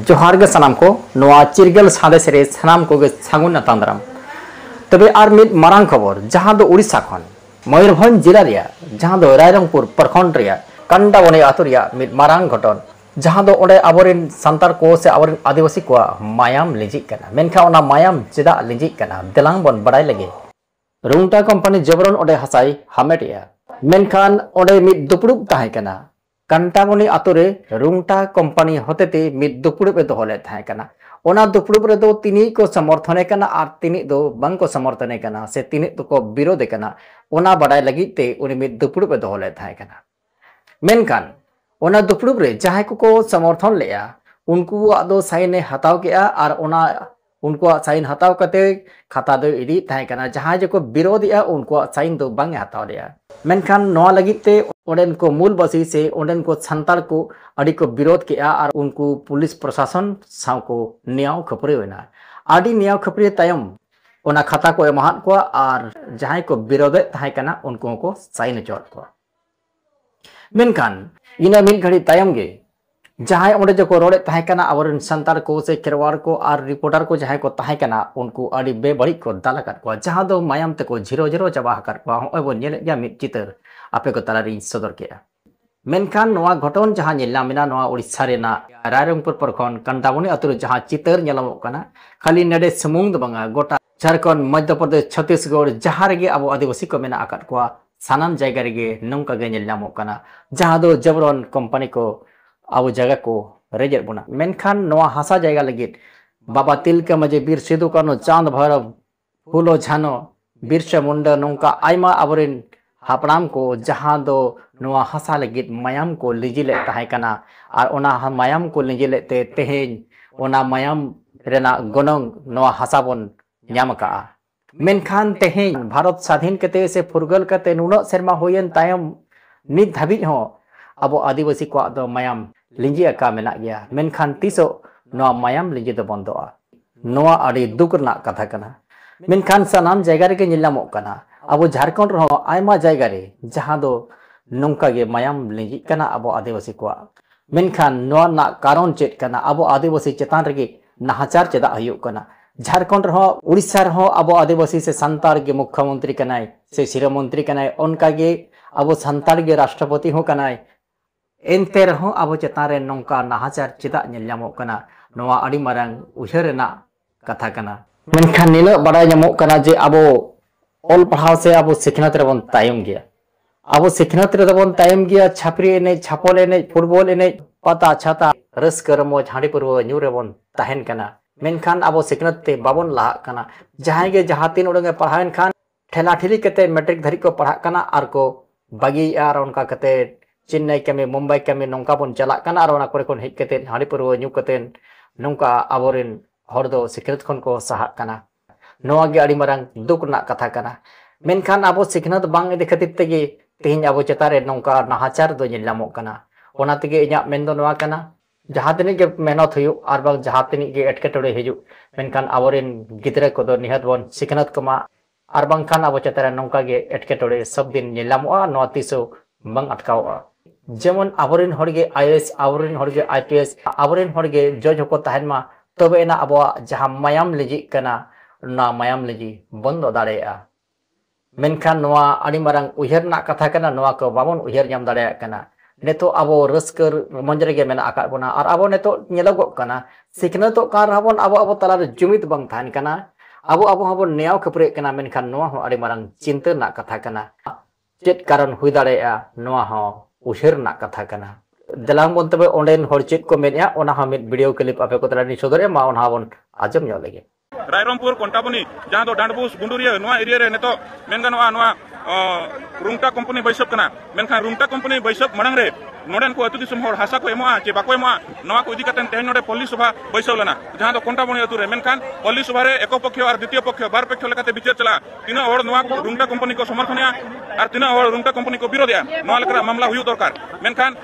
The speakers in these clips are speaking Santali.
ᱡᱚᱦᱟᱨ ᱜᱮ ᱥᱟᱱᱟᱢ ᱠᱚ ᱱᱚᱣᱟ ᱪᱤᱨᱜᱟᱹᱞ ᱥᱟᱸᱫᱮᱥ ᱨᱮ ᱥᱟᱱᱟᱢ ᱠᱚᱜᱮ ᱥᱟᱹᱜᱩᱱ ᱟᱛᱟᱝ ᱫᱟᱨᱟᱢ ᱛᱚᱵᱮ ᱟᱨ ᱢᱤᱫ ᱢᱟᱨᱟᱝ ᱠᱷᱚᱵᱚᱨ ᱡᱟᱦᱟᱸ ᱫᱚ ᱳᱰᱤᱥᱟ ᱠᱷᱚᱱ᱾ ᱢᱚᱭᱩᱨᱵᱷᱚᱸᱡᱽ ᱡᱤᱞᱟ ᱨᱮᱭᱟᱜ ᱡᱟᱦᱟᱸ ᱫᱚ ᱨᱟᱭᱨᱚᱝᱯᱩᱨ ᱯᱨᱚᱠᱷᱚᱸᱰ ᱨᱮᱭᱟᱜ ᱠᱟᱱᱰᱟᱵᱚᱱᱤ ᱟᱹᱛᱩ ᱨᱮᱭᱟᱜ ᱢᱤᱫ ᱢᱟᱨᱟᱝ ᱜᱷᱚᱴᱚᱱ ᱡᱟᱦᱟᱸ ᱫᱚ ᱚᱸᱰᱮ ᱟᱵᱚ ᱨᱮᱱ ᱥᱟᱱᱛᱟᱲ ᱠᱚ ᱥᱮ ᱟᱵᱚ ᱨᱮᱱ ᱟᱹᱫᱤᱵᱟᱹᱥᱤ ᱠᱚᱣᱟᱜ ᱢᱟᱭᱟᱢ ᱞᱤᱸᱡᱤᱜ ᱠᱟᱱᱟ᱾ ᱢᱮᱱᱠᱷᱟᱱ ᱚᱱᱟ ᱢᱟᱭᱟᱢ ᱪᱮᱫᱟᱜ ᱞᱤᱸᱡᱤᱜ ᱠᱟᱱᱟ ᱫᱮᱞᱟᱝ ᱵᱚᱱ ᱵᱟᱰᱟᱭ ᱞᱮᱜᱮ᱾ ᱨᱩᱝᱴᱟ ᱠᱚᱢᱯᱟᱹᱱᱤ ᱡᱚᱵᱚᱨᱚᱱ ᱚᱸᱰᱮ ᱦᱟᱥᱟᱭ ᱦᱟᱢᱮᱴ ᱮᱫᱼᱟ᱾ ᱢᱮᱱᱠᱷᱟᱱ ᱚᱸᱰᱮ ᱢᱤᱫ ᱫᱩᱯᱲᱩᱵ ᱛᱟᱦᱮᱸ ᱠᱟᱱᱟ᱾ ᱠᱟᱱᱴᱟᱢᱚᱱᱤ ᱟᱛᱳ ᱨᱮ ᱨᱩᱝᱴᱟ ᱠᱚᱢᱯᱟᱱᱤ ᱦᱚᱛᱮᱛᱮ ᱢᱤᱫ ᱫᱩᱯᱲᱩᱵ ᱮ ᱫᱚᱦᱚ ᱞᱮᱫ ᱛᱟᱦᱮᱸ ᱠᱟᱱᱟ ᱚᱱᱟ ᱫᱩᱯᱲᱩᱵ ᱨᱮᱫᱚ ᱛᱤᱱᱤᱡ ᱠᱚ ᱥᱚᱢᱚᱨᱛᱷᱚᱱᱮ ᱠᱟᱱᱟ ᱟᱨ ᱛᱤᱱᱤᱡ ᱫᱚ ᱵᱟᱝ ᱠᱚ ᱥᱚᱢᱚᱨᱛᱷᱚᱱᱮ ᱠᱟᱱᱟ ᱥᱮ ᱛᱤᱱᱤᱡ ᱫᱚᱠᱚ ᱵᱤᱨᱳᱫᱷᱮ ᱠᱟᱱᱟ ᱚᱱᱟ ᱵᱟᱰᱟᱭ ᱞᱟᱹᱜᱤᱫ ᱛᱮ ᱩᱱᱤ ᱢᱤᱫ ᱫᱩᱯᱲᱩᱵ ᱮ ᱫᱚᱦᱚ ᱞᱮᱫ ᱛᱟᱦᱮᱸ ᱠᱟᱱᱟ ᱢᱮᱱᱠᱷᱟᱱ ᱚᱱᱟ ᱫᱩᱯᱲᱩᱵ ᱨᱮ ᱡᱟᱦᱟᱸᱭ ᱠᱚᱠᱚ ᱥᱚᱢᱚᱨᱛᱷᱚᱱ ᱞᱮᱫᱼᱟ ᱩᱱᱠᱩᱣᱟᱜ ᱫᱚ ᱥᱟᱭᱤᱱᱮ ᱦᱟᱛᱟᱣ ᱠᱮᱫᱼᱟ ᱟᱨ ᱚᱱᱟ ᱩᱱᱠᱩᱣᱟᱜ ᱥᱟᱭᱤᱱ ᱦᱟᱛᱟᱣ ᱠᱟᱛᱮ ᱠᱷᱟᱛᱟ ᱫᱚᱭ ᱤᱫᱤᱭᱮᱫ ᱛᱟᱦᱮᱸ ᱠᱟᱱᱟ ᱡᱟᱦᱟᱸᱭ ᱡᱮᱠᱚ ᱵᱤᱨᱳᱫᱷᱮᱜᱼᱟ ᱩᱱᱠᱩᱣᱟᱜ ᱥᱟᱭᱤᱱ ᱫᱚ ᱵᱟᱝ ᱮ ᱦᱟᱛᱟᱣ ᱞᱮᱜᱼᱟ ᱢᱮᱱᱠᱷᱟᱱ ᱱᱚᱣᱟ ᱞᱟᱹᱜᱤᱫ ᱛᱮ ᱚᱸᱰᱮᱱ ᱠᱚ ᱢᱩᱞ ᱵᱟᱹᱥᱤ ᱥᱮ ᱚᱸᱰᱮᱱ ᱠᱚ ᱥᱟᱱᱛᱟᱲ ᱠᱚ ᱟᱹᱰᱤ ᱠᱚ ᱵᱤᱨᱳᱫᱷ ᱠᱮᱜᱼᱟ ᱟᱨ ᱩᱱᱠᱩ ᱯᱩᱞᱤᱥ ᱯᱨᱚᱥᱟᱥᱚᱱ ᱥᱟᱶ ᱠᱚ ᱱᱮᱭᱟᱣ ᱠᱷᱟᱹᱯᱟᱹᱨᱤ ᱮᱱᱟ ᱟᱹᱰᱤ ᱱᱮᱭᱟᱣ ᱠᱷᱟᱹᱯᱟᱹᱨᱤ ᱛᱟᱭᱚᱢ ᱚᱱᱟ ᱠᱷᱟᱛᱟ ᱠᱚ ᱮᱢᱟᱦᱟᱫ ᱠᱚᱣᱟ ᱟᱨ ᱡᱟᱦᱟᱸᱭ ᱠᱚ ᱵᱤᱨᱳᱫᱷᱮᱫ ᱛᱟᱦᱮᱸ ᱠᱟᱱᱟ ᱩᱱᱠᱩ ᱦᱚᱸᱠᱚ ᱥᱟᱭᱤᱱ ᱦᱚᱪᱚᱣᱟᱫ ᱠᱚᱣᱟ ᱢᱮᱱᱠᱷᱟᱱ ᱤᱱᱟᱹ ᱢᱤᱫ ᱜᱷᱟᱹᱲᱤ ᱛᱟᱭᱚᱢ ᱜᱮ ᱡᱟᱦᱟᱸᱭ ᱚᱸᱰᱮ ᱡᱚᱠᱚ ᱨᱚᱲᱮᱫ ᱛᱟᱦᱮᱸ ᱠᱟᱱᱟ ᱟᱵᱚᱨᱮᱱ ᱥᱟᱱᱛᱟᱲ ᱠᱚ ᱥᱮ ᱠᱷᱮᱨᱣᱟᱲ ᱠᱚ ᱟᱨ ᱨᱤᱯᱳᱨᱴᱟᱨ ᱠᱚ ᱡᱟᱦᱟᱸᱭ ᱠᱚ ᱛᱟᱦᱮᱸ ᱠᱟᱱᱟ ᱩᱱᱠᱩ ᱟᱹᱰᱤ ᱵᱮᱵᱟᱹᱲᱤᱡ ᱠᱚ ᱫᱟᱞ ᱟᱠᱟᱫ ᱠᱚᱣᱟ ᱡᱟᱦᱟᱸ ᱫᱚ ᱢᱟᱭᱟᱢ ᱛᱮᱠᱚ ᱡᱷᱤᱨᱚ ᱡᱷᱤᱨᱚ ᱪᱟᱵᱟ ᱟᱠᱟᱫ ᱠᱚᱣᱟ ᱦᱚᱸᱜᱼᱚᱭ ᱵᱚᱱ ᱧᱮᱞᱮᱫ ᱜᱮᱭᱟ ᱢᱤᱫ ᱪᱤᱛᱟᱹᱨ ᱟᱯᱮ ᱠᱚ ᱛᱟᱞᱟ ᱨᱤᱧ ᱥᱚᱫᱚᱨ ᱠᱮᱫᱼᱟ ᱢᱮᱱᱠᱷᱟᱱ ᱱᱚᱣᱟ ᱜᱷᱚᱴᱚᱱ ᱡᱟᱦᱟᱸ ᱧᱮᱞ ᱧᱟᱢ ᱮᱱᱟ ᱱᱚᱣᱟ ᱳᱰᱤᱥᱟ ᱨᱮᱱᱟᱜ ᱨᱟᱭᱨᱚᱝᱯᱩᱨ ᱯᱨᱚᱠᱷᱚᱸᱰ ᱠᱟᱱᱰᱟᱢᱚᱱᱤ ᱟᱛᱳ ᱨᱮ ᱡᱟᱦᱟᱸ ᱪᱤᱛᱟᱹᱨ ᱧᱮᱞᱚᱜᱚᱜ ᱠᱟᱱᱟ ᱠᱷᱟᱹᱞᱤ ᱱᱚᱰᱮ ᱥᱩᱢᱩᱝ ᱫᱚ ᱵᱟᱝᱟ ᱜᱚᱴᱟ ᱡᱷᱟᱲᱠᱷᱚᱸᱰ ᱢᱚᱫᱷᱭᱚ ᱯᱨᱚᱫᱮᱥ ᱪᱷᱚᱛᱤᱥᱜᱚᱲ ᱡᱟᱦᱟᱸ ᱨᱮᱜᱮ ᱟᱵᱚ ᱟᱹᱫᱤᱵᱟᱹᱥᱤ ᱠᱚ ᱢᱮᱱᱟᱜ ᱟᱠᱟᱫ ᱠᱚᱣᱟ ᱥᱟᱱᱟᱢ ᱡᱟᱭᱜᱟ ᱨᱮᱜᱮ ᱱᱚᱝᱠᱟ ᱜᱮ ᱧᱮᱞ ᱧᱟᱢᱚᱜ ᱠᱟᱱᱟ ᱡᱟᱦᱟᱸ ᱫᱚ ᱡᱚᱵᱨᱚᱱ ᱠᱚᱢᱯᱟᱱᱤ ᱠᱚ ᱟᱵᱚ ᱡᱟᱭᱜᱟ ᱠᱚ ᱨᱮᱡᱮᱫ ᱵᱚᱱᱟ ᱢᱮᱱᱠᱷᱟᱱ ᱱᱚᱣᱟ ᱦᱟᱥᱟ ᱡᱟᱭᱜᱟ ᱞᱟᱹᱜᱤᱫ ᱵᱟᱵᱟ ᱛᱤᱞᱠᱟᱹ ᱢᱟᱹᱡᱷᱤ ᱵᱤᱨ ᱥᱤᱫᱩ ᱠᱟᱹᱱᱩ ᱪᱟᱸᱫᱽ ᱵᱷᱟᱭᱨᱚᱵ ᱯᱷᱩᱞᱚ ᱡᱷᱟᱱᱚ ᱵᱤᱨᱥᱟ ᱢᱩᱱᱰᱟ ᱱᱚᱝᱠᱟ ᱟᱭᱢᱟ ᱟᱵᱚᱨᱮᱱ ᱦᱟᱯᱲᱟᱢ ᱠᱚ ᱡᱟᱦᱟᱸ ᱫᱚ ᱱᱚᱣᱟ ᱦᱟᱥᱟ ᱞᱟᱹᱜᱤᱫ ᱢᱟᱭᱟᱢ ᱠᱚ ᱞᱤᱸᱡᱤ ᱞᱮᱫ ᱛᱟᱦᱮᱸ ᱠᱟᱱᱟ ᱟᱨ ᱚᱱᱟ ᱢᱟᱭᱟᱢ ᱠᱚ ᱞᱤᱸᱡᱤ ᱞᱮᱫ ᱛᱮ ᱛᱮᱦᱮᱧ ᱚᱱᱟ ᱢᱟᱭᱟᱢ ᱨᱮᱱᱟᱜ ᱜᱚᱱᱚᱝ ᱱᱚᱣᱟ ᱦᱟᱥᱟ ᱵᱚᱱ ᱧᱟᱢ ᱟᱠᱟᱫᱼᱟ ᱢᱮᱱᱠᱷᱟᱱ ᱛᱮᱦᱮᱧ ᱵᱷᱟᱨᱚᱛ ᱥᱟᱫᱷᱤᱱ ᱠᱟᱛᱮ ᱥᱮ ᱯᱷᱩᱨᱜᱟᱹᱞ ᱠᱟᱛᱮ ᱱᱩᱱᱟᱹᱜ ᱥᱮᱨᱢᱟ ᱦᱩᱭᱮᱱ ᱛᱟᱭᱚᱢ ᱱᱤᱛ ᱫᱷᱟᱹᱵᱤᱡ ᱦᱚᱸ ᱟᱵᱚ ᱟᱹᱫᱤᱵᱟᱹᱥᱤ ᱠᱚᱣᱟᱜ ᱫᱚ ᱢᱟᱭᱟᱢ ᱞᱤᱸᱡᱤ ᱟᱠᱟ ᱢᱮᱱᱟᱜ ᱜᱮᱭᱟ ᱢᱮᱱᱠᱷᱟᱱ ᱛᱤᱥᱚᱜ ᱱᱚᱣᱟ ᱢᱟᱭᱟᱢ ᱞᱤᱸᱡᱤ ᱫᱚ ᱵᱚᱱᱫᱚᱜᱼᱟ ᱱᱚᱣᱟ ᱟᱹᱰᱤ ᱫᱩᱠ ᱨᱮᱱᱟᱜ ᱠᱟᱛᱷᱟ ᱠᱟᱱᱟ ᱢᱮᱱᱠᱷᱟᱱ ᱥᱟᱱᱟᱢ ᱡᱟᱭᱜᱟ ᱨᱮᱜᱮ ᱧᱮᱞ ᱧᱟᱢᱚᱜ ᱠᱟᱱᱟ ᱟᱵᱚ ᱡᱷᱟᱨᱠᱷᱚᱸᱰ ᱨᱮᱦᱚᱸ ᱟᱭᱢᱟ ᱡᱟᱭᱜᱟ ᱨᱮ ᱡᱟᱦᱟᱸ ᱫᱚ ᱱᱚᱝᱠᱟ ᱜᱮ ᱢᱟᱭᱟᱢ ᱞᱤᱸᱡᱤᱜ ᱠᱟᱱᱟ ᱟᱵᱚ ᱟᱹᱫᱤᱵᱟᱹᱥᱤ ᱠᱚᱣᱟᱜ ᱢᱮᱱᱠᱷᱟᱱ ᱱᱚᱣᱟ ᱨᱮᱱᱟᱜ ᱠᱟᱨᱚᱱ ᱪᱮᱫ ᱠᱟᱱᱟ ᱟᱵᱚ ᱟᱹᱫᱤᱵᱟᱹᱥᱤ ᱪᱮᱛᱟᱱ ᱨᱮᱜᱮ ᱱᱟᱦᱟᱪᱟᱨ ᱪᱮᱫᱟᱜ ᱦᱩᱭᱩᱜ ᱠᱟᱱᱟ ᱡᱷᱟᱨᱠᱷᱚᱸᱰ ᱨᱮᱦᱚᱸ ᱩᱲᱤᱥᱥᱟ ᱨᱮᱦᱚᱸ ᱟᱵᱚ ᱟᱹᱫᱤᱵᱟᱹᱥᱤ ᱥᱮ ᱥᱟᱱᱛᱟᱲ ᱜᱮ ᱢᱩᱠᱷᱭᱚᱢᱚᱱᱛᱨᱤ ᱠᱟᱱᱟᱭ ᱥᱮ ᱥᱤᱨᱟᱹ ᱢᱚᱱᱛᱨᱤ ᱠᱟᱱᱟᱭ ᱚᱱᱠᱟ ᱜᱮ ᱟᱵᱚ ᱥᱟᱱᱛᱟᱲ ᱜᱮ ᱨᱟᱥᱴᱨᱚᱯᱚᱛᱤ ᱦᱚᱸ ᱠᱟᱱᱟᱭ ᱮᱱᱛᱮ ᱨᱮᱦᱚᱸ ᱟᱵᱚ ᱪᱮᱛᱟᱱ ᱨᱮ ᱱᱚᱝᱠᱟ ᱱᱟᱦᱟᱪᱟᱨ ᱪᱮᱫᱟᱜ ᱧᱮᱞ ᱧᱟᱢᱚᱜ ᱠᱟᱱᱟ ᱱᱚᱣᱟ ᱟᱹᱰᱤ ᱢᱟᱨᱟᱝ ᱩᱭᱦᱟᱹᱨ ᱨᱮᱱᱟᱜ ᱠᱟᱛᱷᱟ ᱠᱟᱱᱟ᱾ ᱢᱮᱱᱠᱷᱟᱱ ᱱᱤᱱᱟᱹᱜ ᱵᱟᱰᱟᱭ ᱧᱟᱢᱚᱜ ᱠᱟᱱᱟ ᱡᱮ ᱟᱵᱚ ᱚᱞ ᱯᱟᱲᱦᱟᱣ ᱥᱮ ᱟᱵᱚ ᱥᱤᱠᱷᱱᱟᱹᱛ ᱨᱮᱵᱚᱱ ᱛᱟᱭᱚᱢ ᱜᱮᱭᱟ᱾ ᱟᱵᱚ ᱥᱤᱠᱷᱱᱟᱹᱛ ᱨᱮᱫᱚ ᱵᱚᱱ ᱛᱟᱭᱚᱢ ᱜᱮᱭᱟ ᱪᱷᱟᱹᱯᱨᱤ ᱮᱱᱮᱡ, ᱪᱷᱟᱯᱚᱞ ᱮᱱᱮᱡ, ᱯᱷᱩᱴᱵᱚᱞ ᱮᱱᱮᱡ, ᱯᱟᱛᱟ ᱪᱷᱟᱛᱟ, ᱨᱟᱹᱥᱠᱟᱹ ᱨᱚᱢᱚᱡᱽ, ᱦᱟᱺᱰᱤ ᱯᱟᱹᱨᱣᱟᱹ ᱧᱩ ᱨᱮᱵᱚᱱ ᱛᱟᱦᱮᱱ ᱠᱟᱱᱟ ᱢᱮᱱᱠᱷᱟᱱ ᱟᱵᱚ ᱥᱤᱠᱷᱱᱟᱹᱛ ᱛᱮ ᱵᱟᱵᱚᱱ ᱞᱟᱦᱟᱜ ᱠᱟᱱᱟ᱾ ᱡᱟᱦᱟᱸᱭ ᱜᱮ ᱡᱟᱦᱟᱸ ᱛᱤᱱ ᱩᱰᱟᱹᱝ ᱮ ᱯᱟᱲᱦᱟᱣ ᱮᱱ ᱠᱷᱟᱱ ᱴᱷᱮᱞᱟ ᱴᱷᱤᱞᱤ ᱠᱟᱛᱮ ᱢᱮᱴᱨᱤᱠ ᱫᱷᱟᱹᱨᱤᱡ ᱠᱚ ᱯᱟᱲᱦᱟᱜ ᱠᱟᱱᱟ ᱟᱨ ᱠᱚ ᱵᱟᱹᱜᱤᱭᱮᱫᱼᱟ ᱟᱨ ᱚᱱᱠᱟ ᱠᱟᱛᱮ ᱪᱮᱱᱱᱟᱭ ᱠᱟᱹᱢᱤ ᱢᱩᱢᱵᱟᱭ ᱠᱟᱹᱢᱤ ᱱᱚᱝᱠᱟ ᱵᱚᱱ ᱪᱟᱞᱟᱜ ᱠᱟᱱᱟ ᱟᱨ ᱚᱱᱟ ᱠᱚᱨᱮ ᱠᱷᱚᱱ ᱦᱮᱡ ᱠᱟᱛᱮ ᱦᱟᱺᱰᱤ ᱯᱟᱹᱨᱣᱟᱹ ᱧᱩ ᱠᱟᱛᱮ ᱱᱚᱝᱠᱟ ᱟᱵᱚᱨᱮᱱ ᱦᱚᱲ ᱫᱚ ᱥᱤᱠᱷᱱᱟᱹᱛ ᱠᱷᱚᱱ ᱠᱚ ᱥᱟᱦᱟᱜ ᱠᱟᱱᱟ ᱱᱚᱣᱟ ᱜᱮ ᱟᱹᱰᱤ ᱢᱟᱨᱟᱝ ᱫᱩᱠ ᱨᱮᱱᱟᱜ ᱠᱟᱛᱷᱟ ᱠᱟᱱᱟ ᱢᱮᱱᱠᱷᱟᱱ ᱟᱵᱚ ᱥᱤᱠᱷᱱᱟᱹᱛ ᱵᱟᱝ ᱤᱫᱤ ᱠᱷᱟᱹᱛᱤᱨ ᱛᱮᱜᱮ ᱛᱮᱦᱮᱧ ᱟᱵᱚ ᱪᱮᱛᱟᱱ ᱨᱮ ᱱᱚᱝᱠᱟ ᱱᱟᱦᱟᱪᱟᱨ ᱫᱚ ᱧᱮᱞ ᱧᱟᱢᱚᱜ ᱠᱟᱱᱟ ᱚᱱᱟ ᱛᱮᱜᱮ ᱤᱧᱟᱹᱜ ᱢᱮᱱ ᱫᱚ ᱱᱚᱣᱟ ᱠᱟᱱᱟ ᱡᱟᱦᱟᱸ ᱛᱤᱱᱟᱹᱜ ᱜᱮ ᱢᱮᱦᱱᱚᱛ ᱦᱩᱭᱩᱜ ᱟᱨ ᱵᱟᱝ ᱡᱟᱦᱟᱸ ᱛᱤᱱᱟᱹᱜ ᱜᱮ ᱮᱴᱠᱮᱴᱚᱬᱮ ᱦᱤᱡᱩᱜ ᱢᱮᱱᱠᱷᱟᱱ ᱟᱵᱚᱨᱮᱱ ᱜᱤᱫᱽᱨᱟᱹ ᱠᱚᱫᱚ ᱱᱤᱦᱟᱹᱛ ᱵᱚᱱ ᱥᱤᱠᱷᱱᱟᱹᱛ ᱠᱚᱢᱟ ᱟᱨ ᱵᱟᱝᱠᱷᱟᱱ ᱟᱵᱚ ᱪᱮᱛᱟᱱ ᱨᱮ ᱱᱚᱝᱠᱟ ᱜᱮ ᱮᱴᱠᱮᱴᱚᱬᱮ ᱥᱚᱵ ᱫᱤᱱ ᱧᱮᱞ ᱧᱟᱢᱚᱜᱼᱟ ᱱᱚᱣᱟ ᱛᱤᱥ ᱦᱚᱸ ᱵᱟᱝ ᱟᱴᱠᱟᱣᱚᱜᱼᱟ ᱡᱮᱢᱚᱱ ᱟᱵᱚᱨᱮᱱ ᱦᱚᱲ ᱜᱮ ᱟᱭᱮᱥ ᱟᱵᱚᱨᱮᱱ ᱦᱚᱲ ᱜᱮ ᱟᱭᱯᱤᱮᱥ ᱟᱵᱚᱨᱮᱱ ᱦᱚᱲ ᱜᱮ ᱡᱚᱡᱽ ᱦᱚᱸᱠᱚ ᱛᱟᱦᱮᱱ ᱢᱟ ᱛᱚᱵᱮ ᱮᱱᱟ ᱟᱵᱚᱣᱟᱜ ᱡᱟᱦᱟᱸ ᱢᱟᱭᱟᱢ ᱞᱤᱸᱡᱤᱜ ᱠᱟᱱᱟ ᱚᱱᱟ ᱢᱟᱭᱟᱢ ᱞᱤᱸᱡᱤ ᱵᱚᱱᱫᱚ ᱫᱟᱲᱮᱭᱟᱜᱼᱟ ᱢᱮᱱᱠᱷᱟᱱ ᱱᱚᱣᱟ ᱟᱹᱰᱤ ᱢᱟᱨᱟᱝ ᱩᱭᱦᱟᱹᱨ ᱨᱮᱱᱟᱜ ᱠᱟᱛᱷᱟ ᱠᱟᱱᱟ ᱱᱚᱣᱟ ᱠᱚ ᱵᱟᱵᱚᱱ ᱩᱭᱦᱟᱹᱨ ᱧᱟᱢ ᱫᱟᱲᱮᱭᱟᱜ ᱠᱟᱱᱟ ᱱᱤᱛᱚᱜ ᱟᱵᱚ ᱨᱟᱹᱥᱠᱟᱹ ᱨᱚᱢᱚᱡᱽ ᱨᱮᱜᱮ ᱢᱮᱱᱟᱜ ᱟᱠᱟᱫ ᱵᱚᱱᱟ ᱟᱨ ᱟᱵᱚ ᱱᱤᱛᱚᱜ ᱧᱮᱞᱚᱜᱚᱜ ᱠᱟᱱᱟ ᱥᱤᱠᱷᱱᱟᱹᱛᱚᱜ ᱠᱟᱱ ᱨᱮᱦᱚᱸ ᱵᱚᱱ ᱟᱵᱚ ᱟᱵᱚ ᱛᱟᱞᱟᱨᱮ ᱡᱩᱢᱤᱫ ᱵᱟᱝ ᱛᱟᱦᱮᱱ ᱠᱟᱱᱟ ᱟᱵᱚ ᱟᱵᱚ ᱦᱚᱸᱵᱚᱱ ᱱᱮᱭᱟᱣ ᱠᱷᱟᱹᱯᱟᱹᱨᱤᱜ ᱠᱟᱱᱟ ᱢᱮᱱᱠᱷᱟᱱ ᱱᱚᱣᱟ ᱦᱚᱸ ᱟᱹᱰᱤ ᱢᱟᱨᱟᱝ ᱪᱤᱱᱛᱟᱹ ᱨᱮᱱᱟᱜ ᱠᱟᱛᱷᱟ ᱠᱟᱱᱟ ᱪᱮᱫ ᱠᱟᱨᱚᱱ ᱦᱩᱭ ᱫᱟᱲᱮᱭᱟᱜᱼᱟ ᱱᱚᱣᱟ ᱦᱚᱸ ᱩᱭᱦᱟᱹᱨ ᱨᱮᱱᱟᱜ ᱠᱟᱛᱷᱟ ᱠᱟᱱᱟ ᱫᱮᱞᱟᱝ ᱵᱚᱱ ᱛᱚᱵᱮ ᱚᱸᱰᱮᱱ ᱦᱚᱲ ᱪᱮᱫ ᱠᱚ ᱢᱮᱱᱮᱜᱼᱟ ᱚᱱᱟ ᱦᱚᱸ ᱢᱤᱫ ᱵᱷᱤᱰᱤᱭᱳ ᱠᱞᱤᱯ ᱟᱯᱮ ᱠᱚ ᱛᱟᱞᱟᱨᱮ ᱞᱤᱧ ᱥᱚᱫᱚᱨᱮᱜᱼᱟ ᱢᱟ ᱚᱱᱟ ᱦᱚᱸ ᱵᱚᱱ ᱟᱸᱡᱚᱢ ᱧᱚᱜ ᱞᱮᱜᱮ ᱨᱟᱭᱨᱚᱢᱯᱩᱨ ᱠᱚᱱᱴᱟᱵᱚᱱᱤ ᱡᱟᱦᱟᱸ ᱫᱚ ᱰᱟᱸᱰᱵᱩᱥ ᱜᱩᱸᱰᱩᱨᱤᱭᱟᱹ ᱱᱚᱣᱟ ᱮᱨᱤᱭᱟ ᱨᱮ ᱱᱤᱛᱚᱜ ᱢᱮᱱ ᱜᱟᱱᱚᱜᱼᱟ ᱱᱚᱣᱟ ᱨᱩᱝᱴᱟ ᱠᱳᱢᱯᱟᱱᱤ ᱵᱟᱹᱭᱥᱟᱹᱵ ᱠᱟᱱᱟ ᱢᱮᱱᱠᱷᱟᱱ ᱨᱩᱝᱴᱟ ᱠᱳᱢᱯᱟᱱᱤ ᱵᱟᱹᱭᱥᱟᱹᱵ ᱢᱟᱲᱟᱝ ᱨᱮ ᱱᱚᱰᱮᱱ ᱠᱚ ᱟᱹᱛᱩ ᱫᱤᱥᱚᱢ ᱦᱚᱲ ᱦᱟᱥᱟ ᱠᱚ ᱮᱢᱚᱜᱼᱟ ᱪᱮ ᱵᱟᱠᱚ ᱮᱢᱚᱜᱼᱟ ᱱᱚᱣᱟ ᱠᱚ ᱤᱫᱤ ᱠᱟᱛᱮ ᱛᱮᱦᱮᱧ ᱱᱚᱰᱮ ᱯᱚᱞᱞᱤ ᱥᱚᱵᱷᱟ ᱵᱟᱹᱭᱥᱟᱹᱣ ᱞᱮᱱᱟ ᱡᱟᱦᱟᱸ ᱫᱚ ᱠᱚᱱᱴᱟᱵᱚᱱᱤ ᱟᱹᱛᱩ ᱨᱮ ᱢᱮᱱᱠᱷᱟᱱ ᱯᱚᱞᱞᱤ ᱥᱚᱵᱷᱟ ᱨᱮ ᱮᱠᱚ ᱯᱚᱠᱠᱷᱚ ᱟᱨ ᱫᱤᱛᱤᱭᱚ ᱯᱚᱠᱠᱷᱚ ᱵᱟᱨ ᱯᱚᱠᱠᱷᱚ ᱞᱮᱠᱟᱛᱮ ᱵᱤᱪᱟᱹᱨ ᱪᱟᱞᱟᱜᱼᱟ ᱛᱤᱱᱟᱹᱜ ᱦᱚᱲ ᱱᱚᱣᱟ ᱨᱩᱝᱴᱟ ᱠᱳᱢᱯᱟᱱᱤ ᱠᱚ ᱥᱚᱢᱚᱨᱛᱷᱚᱱᱮᱜᱼᱟ ᱟᱨ ᱛᱤᱱᱟᱹᱜ ᱦᱚᱲ ᱨᱩᱝᱴᱟ ᱠᱳᱢᱯᱟᱱᱤ ᱠᱚ ᱵᱤᱨᱳᱫᱮᱜᱼᱟ ᱱᱚᱣᱟ ᱞᱮᱠᱟᱱᱟᱜ ᱢᱟᱢᱞᱟ ᱦᱩᱭᱩᱜ ᱫᱚᱨᱠᱟᱨ ᱢᱮᱱᱠᱷᱟᱱ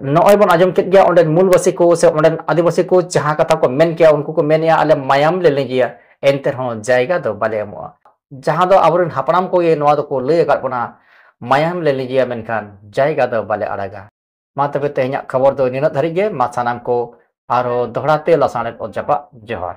ᱱᱚᱜᱼᱚᱭ ᱵᱚᱱ ᱟᱸᱡᱚᱢ ᱠᱮᱫ ᱜᱮᱭᱟ ᱚᱸᱰᱮᱱ ᱢᱩᱞᱵᱟᱹᱥᱤ ᱠᱚ ᱥᱮ ᱚᱸᱰᱮᱱ ᱟᱹᱫᱤᱵᱟᱹᱥᱤ ᱠᱚ ᱡᱟᱦᱟᱸ ᱠᱟᱛᱷᱟ ᱠᱚ ᱢᱮᱱ ᱠᱮᱭᱟ ᱩᱱᱠᱩ ᱠᱚ ᱢᱮᱱᱮᱜᱼᱟ ᱟᱞᱮ ᱢᱟᱭᱟᱢ ᱞᱮ ᱞᱤᱸᱜᱤᱭᱟ ᱮᱱᱛᱮ ᱨᱮᱦᱚᱸ ᱡᱟᱭᱜᱟ ᱫᱚ ᱵᱟᱞᱮ ᱮᱢᱚᱜᱼᱟ ᱡᱟᱦᱟᱸ ᱫᱚ ᱟᱵᱚᱨᱮᱱ ᱦᱟᱯᱲᱟᱢ ᱠᱚᱜᱮ ᱱᱚᱣᱟ ᱫᱚᱠᱚ ᱞᱟᱹᱭ ᱟᱠᱟᱫ ᱵᱚᱱᱟ ᱢᱟᱭᱟᱢ ᱞᱮ ᱞᱤᱸᱜᱤᱭᱟ ᱢᱮᱱᱠᱷᱟᱱ ᱡᱟᱭᱜᱟ ᱫᱚ ᱵᱟᱞᱮ ᱟᱲᱟᱜᱟ ᱢᱟ ᱛᱚᱵᱮ ᱛᱮᱦᱮᱧᱟᱜ ᱠᱷᱚᱵᱚᱨ ᱫᱚ ᱱᱤᱱᱟᱹᱜ ᱫᱷᱟᱹᱨᱤᱡ ᱜᱮ ᱢᱟ ᱥᱟᱱᱟᱢ ᱠᱚ ᱟᱨᱦᱚᱸ ᱫᱚᱦᱲᱟ ᱛᱮ ᱞᱟᱥᱟᱬᱦᱮᱫ ᱚᱛ ᱡᱟᱯᱟᱜ ᱡᱚᱦᱟᱨ